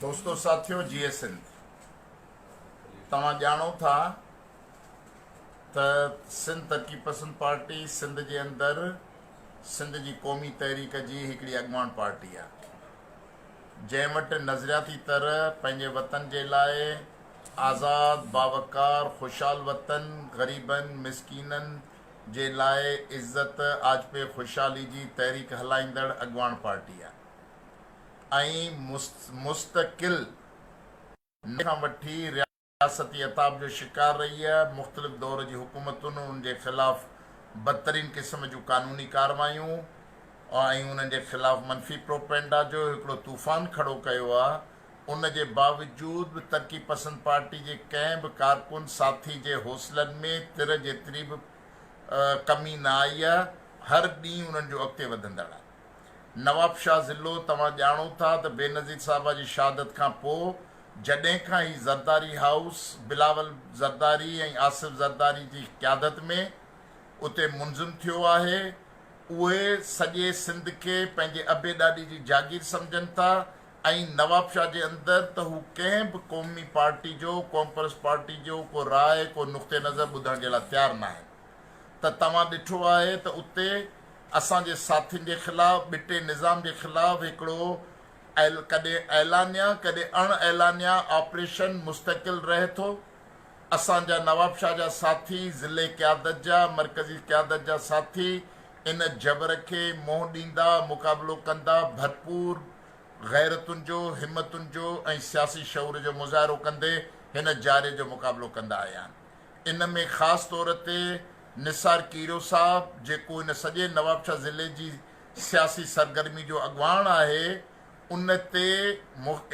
دوستو ساٿيو جيئي سنڌ توهان ڄاڻو ٿا ته سنڌ ترقي پسند پارٽي سنڌ جي اندر سنڌ جي قومي تحريڪ جي هڪڙي اڳواڻ پارٽي آهي جنهن وٽ نظرياتي طرح پنهنجي وطن جي لاء آزاد باوقار خوشحال وطن غريبن مسڪينن جي لاء عزت آجپي خوشحالي جي تحريڪ هلائيندڙ اڳواڻ پارٽي آهي ۽ مستقل نئين کان وٺي رياستي عتاب جو شڪار رهي ۽ مختلف دور جي حڪومتن ان جي خلاف بدترين قسم جون قانوني ڪاروايون ۽ انهن جي خلاف منفي پروپئنڊا جو هڪڙو طوفان کڙو ڪيو آهي ان جي باوجود به ترقي پسند پارٽي جي ڪنهن به ڪارڪن ساٿي جي حوصلن ۾ تر جيتري به ڪمي نه آئي آهي هر ڏينهن انهن جو اڳتي وڌندڙ آهي. نوابشاهه ضلعو، توهان ڄاڻو ٿا ته بينظير صاحبه جي شهادت کان پوء جڏهن کان هي زرداري هائوس بلاول زرداري ۽ آصف زرداري جي قيادت ۾ اتي منظم ٿيو آهي، اهي سڄي سنڌ کي پنهنجي ابي ڏاڏي جي جاگير سمجهن ٿا ۽ نوابشاهه جي اندر ته هو ڪنهن به قومي پارٽي جو، قومپرست پارٽي جو ڪو راء، ڪو نقطه نظر ٻڌڻ جي لاء تيار ناهن ته توهان ڏٺو آهي ته اتي. اسان جي ساٿين جي خلاف ٻٽي نظام جي خلاف هڪڙو ڪڏهن اعلانيه ڪڏهن اڻ اعلانيه آپريشن مستقل رهي ٿو. اسان جا نوابشاهه جا ساٿي، ضلعي قيادت جا، مرڪزي قيادت جا ساٿي ان جبر کي منهن ڏيندا، مقابلو ڪندا، ڀرپور غيرتن جو، همتن جو ۽ سياسي شعور جو مظاهرو ڪندي هن جاري جو مقابلو ڪندا آيا آهن. ان ۾ خاص طور تي نثار کيرو صاحب جيڪو هن سڄي نوابشاهه ضلعي جي سياسي سرگرمي جو اڳواڻ آهي ان تي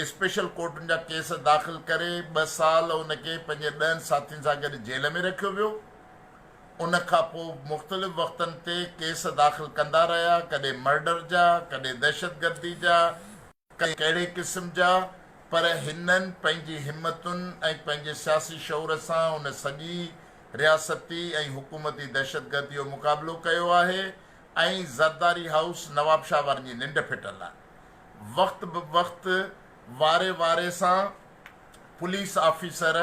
اسپيشل ڪورٽن جا ڪيس داخل ڪري ٻه سال ان کي پنهنجي ڏهن ساٿين سان گڏ جيل ۾ رکيو ويو ان کان پوء مختلف وقتن تي ڪيس داخل ڪندا رهيا ڪڏهن مرڊر جا ڪڏهن دهشتگردي جا ڪي ڪهڙي قسم جا، پر هنن پنهنجي همتن ۽ پنهنجي سياسي شعور سان ان سڄي رياستي ۽ حڪومتي دهشتگردي جو مقابلو ڪيو آهي ۽ زرداري هائوس نوابشاهه وارن جي ننڊ ڦٽل آهي. وقت به وقت واري واري سان پوليس آفيسر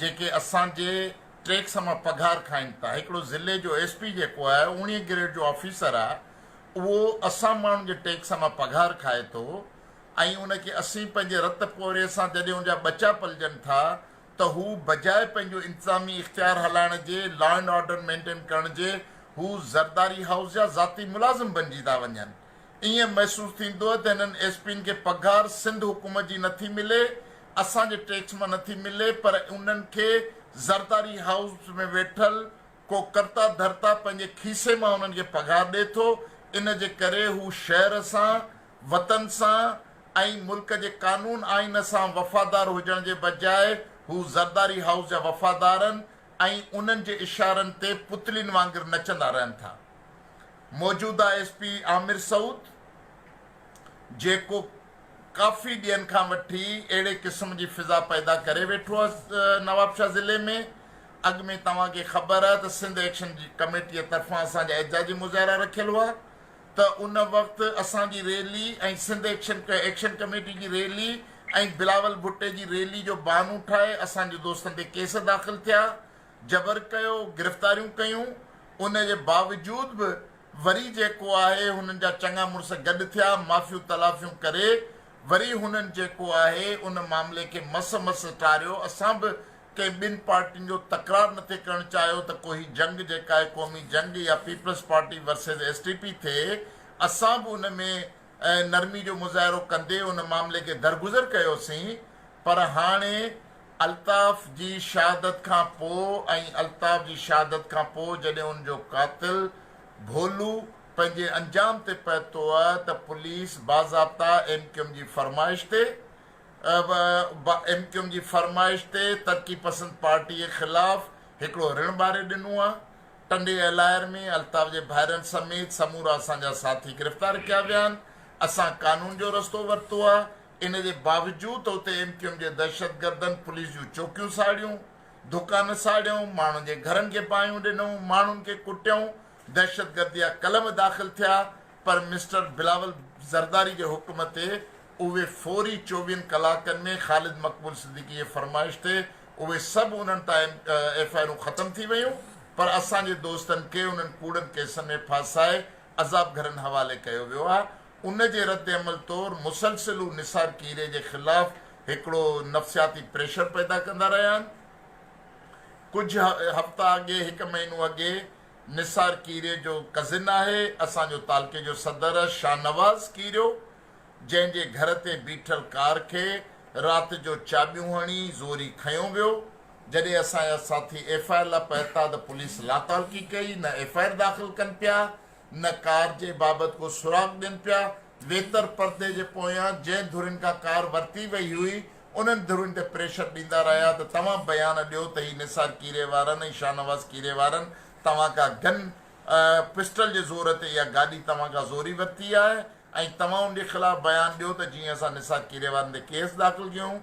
جيڪي اسان جي ٽيڪس مان پگهار کائين ٿا، هڪڙو ضلعي جو ايس پي جيڪو آهي اوڻيهه گريڊ جو آفيسر آهي، اهو اسان ماڻهن جي ٽيڪس مان پگهار کائي ٿو ۽ ان کي اسين پنهنجي رت پوري سان جڏهن ان جا ٻچا پلجن ٿا ته هو بجاء پنهنجو انتظامي اختيار هلائڻ جي، لا اينڊ آرڊر مينٽين ڪرڻ جي هو زرداري هائوس جا ذاتي ملازم بنجي ٿا وڃن. ائين محسوس ٿيندو ته هنن ايس پين کي پگهار سنڌ حڪومت جي نه ٿي ملي، اسان جي ٽيڪس مان نه ٿي ملي پر انهن کي زرداري هائوس ۾ ويٺل ڪو ڪرتا ڌرتا پنهنجي کيسي مان انهن کي پگهار ڏئي ٿو، ان جي ڪري هو شهر سان، وطن سان ۽ ملڪ جي قانون آئين سان وفادار هجڻ جي بجاء هو زرداري هائوس جا وفادارن ۽ انهن جي اشارن تي پتلين وانگر نچندا رهن ٿا. موجوده ايس پي عامر سعود جيڪو ڪافي ڏينهن کان وٺي اهڙي قسم جي فضا پيدا ڪري ويٺو آهي نوابشاهه ضلعي ۾ اڳ ۾ توهان کي خبر آهي ته سنڌ ايڪشن جي ڪميٽيء طرفان اسان جا احتجاجي مظاهرا رکيل هئا ته ان وقت اسان جي rally ۽ Sindh action action committee جي ريلي ۽ بلاول ڀٽي جي ريلي جو بهانو ٺاهي اسان جي دوستن تي ڪيس داخل ٿيا جبر ڪيو گرفتاريون ڪيون ان جي باوجود به وري جيڪو آهي هنن جا چڱا مڙس گڏ ٿيا معافيون تلافيون ڪري وري هنن جيڪو آهي ان معاملي کي مس مس ٽاريو اسان به ڪنهن ٻن پارٽين جو تڪرار نه ٿي ڪرڻ چاهيو ته ڪو هي جنگ جيڪا آهي قومي جنگ يا Peoples Party versus S T P ٿئي اسان به ان ۾ نرمي جو مظاهرو ڪندي ان معاملي کي درگذر ڪيوسين پر هاڻي الطاف جي شهادت کان پوء ۽ الطاف جي شهادت کان پوء جڏهن ان جو قاتل ڀولو پنهنجي انجام تي پهتو ته پوليس باضابطا ايم ڪيو ايم جي فرمائش تي پ پ ايم ڪيوم جي فرمائش تي ترقي پسند پارٽي خلاف هڪڙو رڻ ٻاري ڏنو آ، ٽنڊي الاير ۾ الطاف جي ڀائرن سميت سمورا اسان جا ساٿي گرفتار ڪيا ويا آهن، اسان قانون جو رستو ورتو آ، ان جي باوجود ته اتي ايم ڪيوم جي دهشتگردن پوليس جون چوڪيون ساڙيون، دڪان ساڙيائون، ماڻهن جي گهرن کي باهيون ڏنائون، ماڻهن کي ڪٽيائون، دهشتگردي جا قلم داخل ٿيا پر مسٽر بلاول زرداري جي حڪم تي اهي فوري چوويهن ڪلاڪن ۾ خالد مقبول صديقي جي فرمائش تي اهي سڀ انهن تان ايف آء آرون ختم ٿي ويون پر اسان جي دوستن کي انهن ڪوڙن ڪيسن ۾ ڦاسائي عذاب گهرن حوالي ڪيو ويو آهي ان جي رد عمل طور مسلسل هو نثار ڪيري جي خلاف هڪڙو نفسياتي پريشر پيدا ڪندا رهيا آهن ڪجهه هفتا اڳي هڪ مهينو اڳي نثار ڪيري جو ڪزن آهي اسان جو تعلقي جو صدر شاهنواز ڪيريو جنهن جي گهر تي بيٺل ڪار کي رات جو چاٻيون هڻي زوري کنيو ويو، جڏهن اسان جا ساٿي ايف آء لا پهتا ته پوليس لاتعلقي ڪئي، نه ايف آء داخل ڪن پيا، نه ڪار جي بابت ڪو سراغ ڏين پيا، ويتر پردي جي پويان جنهن ڌرين کان ڪار ورتي وئي هئي، انهن ڌرين تي پريشر ڏيندا رهيا ته توهان بيان ڏيو ته هي نثار کيري وارن ۽ شاهنواز کيري وارن توهان کان گن پسٽل جي زور تي اها گاڏي توهان کان زوري ورتي آهي ۽ توهان ان جي خلاف بيان ڏيو ته جيئن اسان نثار کيري وارن تي ڪيس داخل ڪيون،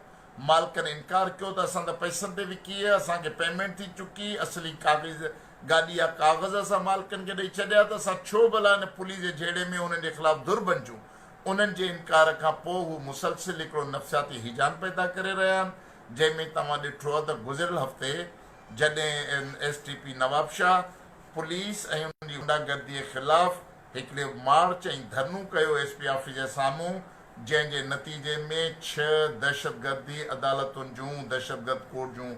مالڪن انڪار ڪيو ته اسان ته پئسن تي وڪي هي، اسان کي پيمينٽ ٿي چڪي، اصلي ڪاغذ گاڏي جا ڪاغذ اسان مالڪن کي ڏئي ڇڏيا ته اسان ڇو ڀلا ان پوليس جي جهيڙي ۾ انهن جي خلاف ڌر بنجون، انهن جي انڪار کان پوء هو مسلسل هڪڙو نفسياتي هيجان پيدا ڪري رهيا آهن جنهن ۾ توهان ڏٺو ته گذريل هفتي جڏهن N S T P Nawabshah police ۽ ان جي غنڊا گردي خلاف هڪڙي مارچ ۽ ڌرڻو ڪيو ايس پي آفيس جي سامهون جنهن جي نتيجي ۾ ڇهه دهشتگردي عدالتن جون دهشتگرد ڪوڊ جون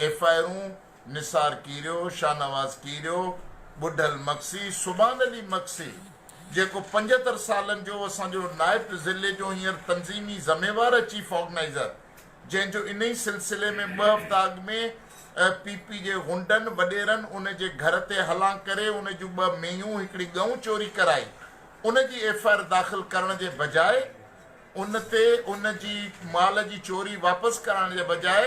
ايف آء آرون نثار ڪيريو، شاهنواز ڪيريو، ٻڍل مگسي، سبحان علي مگسي جيڪو پنجهتر سالن جو اسان جو نائب ضلعي جو هينئر تنظيمي ذميوار ۽ چيف آرگنائيزر جنهن جو انهي سلسلي ۾ ٻه هفتا اڳ ۾ پي پي جي غنڊن وڏيرن ان جي گهر تي حلان ڪري ان جون ٻه مينهون هڪڙي ڳئون چوري ڪرائي ان جي ايف آء آر داخل ڪرڻ جي بجاء ان تي ان جي مال جي چوري واپس ڪرائڻ جي بجاء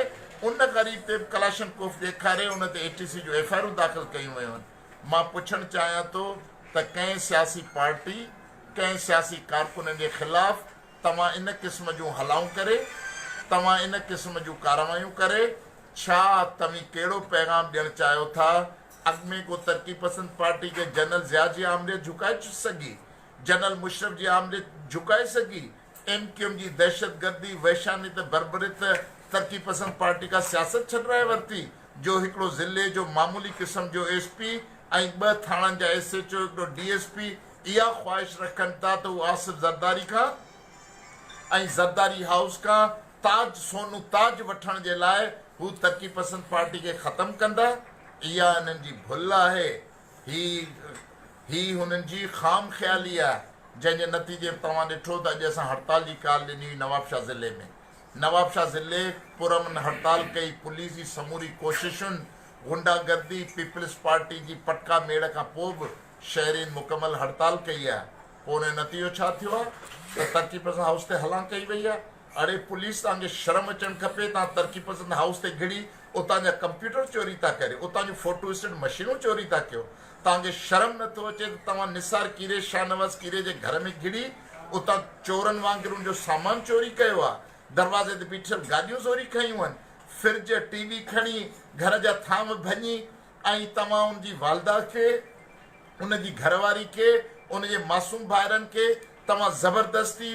ان غريب تي ڪلاشن ڪوف ڏيکاري ان تي اي ٽي سي جون ايف آء آرون داخل ڪيون ويون مان پڇڻ چاهيان ٿو ته ڪنهن سياسي پارٽي ڪنهن سياسي ڪارڪنن جي خلاف توهان ان قسم جون هلائون ڪري، توهان ان قسم جون ڪارروايون ڪري، ڇا توهين ڪهڙو پيغام ڏيڻ چاهيو ٿا؟ اڳ ۾ ڪو ترقي پسند پارٽي کي جنرل ضياء جي آمريت جهڪائي سگهي؟ جنرل مشرف جي آمريت جهڪائي سگهي؟ ايم ڪيو ايم جي دهشتگردي، وحشاني ته بربريت ترقي پسند پارٽي کان سياست ڇڏرائي ورتي، جو هڪڙو ضلعي جو معمولي قسم جو ايس پي ۽ ٻه ٿاڻن جا ايس ايڇ او، هڪڙو ڊي ايس پي اها خواهش رکن ٿا ته هو آصف زرداري کان ۽ زرداري هائوس کان تاج سونو تاج وٺڻ جي لاء هو ترقي پسند پارٽي کي ختم ڪندا. اها هنن جي ڀل آهي. هي هي هنن جي خام خيالي آهي جنهن جي نتيجي به توهان ڏٺو ته اڄ اسان هڙتال جي ڪال ڏني هئي نوابشاهه ضلعي ۾ نوابشاهه ضلعي پرامن هڙتال ڪئي پوليس جي سموري ڪوششن غنڊا گردي پيپلز پارٽي جي پٽڪا ميڙ کان پوء به شهرين مڪمل هڙتال ڪئي آهي پوء ان جو نتيجو ڇا ٿيو آهي ته ترقي پسند هائوس تي هلان ڪئي وئي آهي اڙي پوليس توهان کي شرم اچڻ کپي توهان ترقي پسند هائوس تي گهڙي اتان جا ڪمپيوٽر چوري ٿا ڪريو اتان جون فوٽو اسٽيٽ مشينون چوري ٿا ڪيو توهان کي شرم نٿو اچي ته توهان نثار ڪيري شاهنواز ڪيري جي گهر ۾ گهڙي اتان چورن وانگر ان جو سامان چوري ڪيو آهي دروازي تي بيٺل گاڏيون زوري کنيون آهن فرج ٽي وي کڻي گهر جا ٿانو ڀڃي ۽ توهان ان جي والده کي، ان جي گهر واري کي، ان جي معصوم ڀائرن کي توهان زبردستي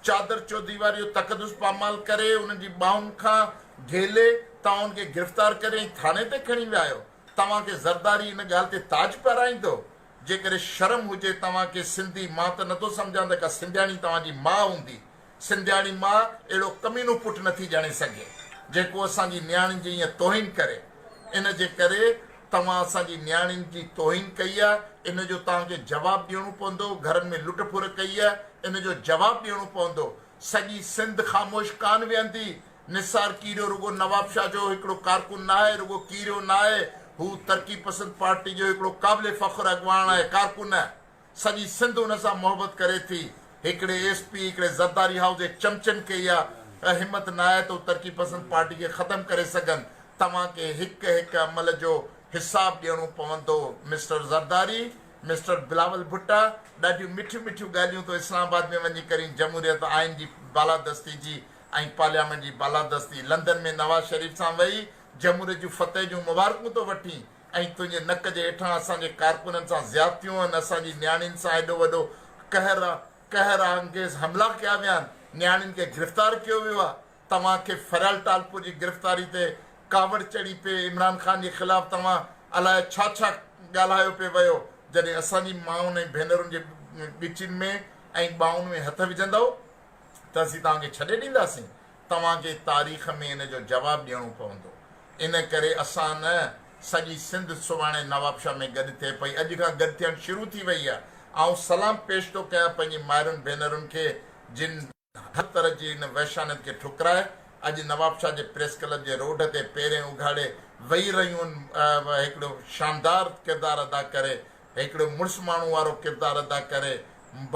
چادر چوديواريو تقدس پامال ڪري انهن جي ٻانهن کان گهيلي توهان ان کي گرفتار ڪري ۽ ٿاڻي تي کڻي ويا آهيو توهان کي زرداري ان ڳالهه تي تاج پهرائيندو جيڪڏهن شرم هجي توهان کي سنڌي مان ته نٿو سمجهان ته ڪا سنڌياڻي توهان جي ماء هوندي سنڌياڻي ماء اهڙو ڪمينو پٽ نه ٿي ڄڻي سگهي، جيڪو اسان جي نياڻين جي ائين توهين ڪري. ان جي ڪري توهان اسان جي نياڻين جي توهين ڪئي آهي، ان جو توهان کي جواب ڏيڻو پوندو. گهرن ۾ لٽ ڦر ڪئي آهي، ان جو جواب ڏيڻو پوندو. سڄي سنڌ خاموش ڪانه ويهندي. نثار ڪيريو رڳو نوابشاهه جو هڪڙو ڪارڪن نه آهي، رڳو ڪيريو نه آهي. هو ترقي پسند پارٽي جو هڪڙو قابل فخر اڳواڻ آهي، ڪارڪن. سڄي سنڌ ان سان محبت ڪري ٿي. هڪڙي ايس پي هڪڙي زرداري هائوس جي چمچن کي اها همت نه آهي ته هو ترقي پسند پارٽي کي ختم ڪري سگهن. توهان کي هڪ هڪ عمل جو حساب ڏيڻو پوندو مسٽر زرداري. مسٽر بلاول ڀٽا ڏاڍيون مٺيون مٺيون ڳالهيون تو اسلام آباد ۾ وڃي ڪرين جمهوريت آئين جي بالادستي جي ۽ پارليامينٽ جي بالادستي لندن ۾ نواز شريف سان ويهي جمهوريت جون فتح جون مبارڪون تو وٺين ۽ تنهنجي نڪ جي هيٺان اسان جي ڪارڪنن سان زيادتيون آهن، اسان جي نياڻين سان ايڏو وڏو قهر آ، قهر آنگيز حملا ڪيا ويا آهن، نياڻين کي گرفتار ڪيو ويو آ، توهان کي فريال ٽالپور جي گرفتاري تي ڪاوڙ چڙهي پئي، عمران خان جي خلاف توهان الائي ڇا ڇا ڳالهايو پئي ويو، جڏهن اسان جي مائن ۽ ڀينرن جي ڳچين ۾ ۽ ٻانهن ۾ هٿ وجهندؤ ته اسين توهان کي ڇڏي ڏينداسين، توهان کي تاريخ ۾ ان جو جواب ڏيڻو پوندو. ان ڪري اسان نه، سڄي سنڌ سڀاڻي نوابشاهه ۾ گڏ ٿئي پئي، اڄ کان گڏ ٿيڻ شروع ٿي وئي آهي. آئون سلام پيش ٿو ڪيان پنهنجي مائرن ڀينرن کي جن هر طرح جي ان وحشانيت کي ٺڪرائي اڄ نوابشاهه جي پريس ڪلب جي روڍ تي پيرين اگهاڙي ويهي رهيون آهن ۽ هڪڙو شاندار ڪردار ادا ڪري هڪڙي مڙس ماڻهو وارو ڪردار ادا ڪري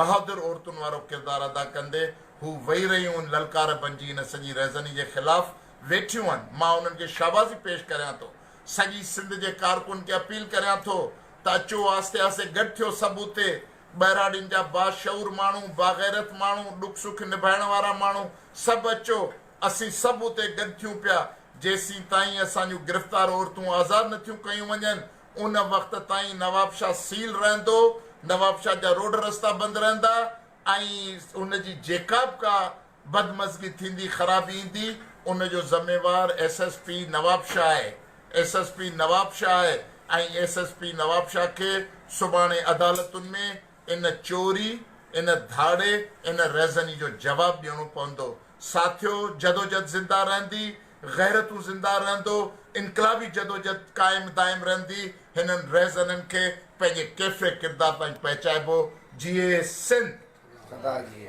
بهادر عورتن وارو ڪردار ادا ڪندي هو وئي رهيون ان للڪار بنجي ان سڄي رهزني جي خلاف ويٺيون آهن مان انهن کي شاباسي پيش ڪريان ٿو سڄي سنڌ جي ڪارڪن کي اپيل ڪريان ٿو ته اچو آهستي آهستي گڏ ٿيو سڀ اتي ٻهراڙين جا باشعور ماڻهو باغيرت ماڻهو ڏک سک نڀائڻ وارا ماڻهو سڀ اچو اسين سڀ اتي گڏ ٿيون پيا جيسين تائين اسان جون گرفتار عورتون آزاد نه ٿيون ڪيون وڃن ان وقت تائين نوابشاهه سيل رهندو، نوابشاهه جا روڊ رستا بند رهندا ۽ ان جي جيڪا به ڪا بدمزگي ٿيندي، خرابي ايندي، ان جو ذميوار ايس ايس پي نوابشاهه آهي، ايس ايس پي نوابشاهه آهي ۽ ايس ايس پي نوابشاهه کي سڀاڻي عدالتن ۾ ان چوري، ان ڌاڙي، ان رهزني جو جواب ڏيڻو پوندو. ساٿيو! جدوجھد زنده رهندي، غيرتون زنده رهندو، انقلابي جدوجھد قائم دائم رهندي، هنن رهزنن کي پنهنجي ڪيفي ڪردار تائين پهچائبو. جيئي سنڌ! سدا جيئي!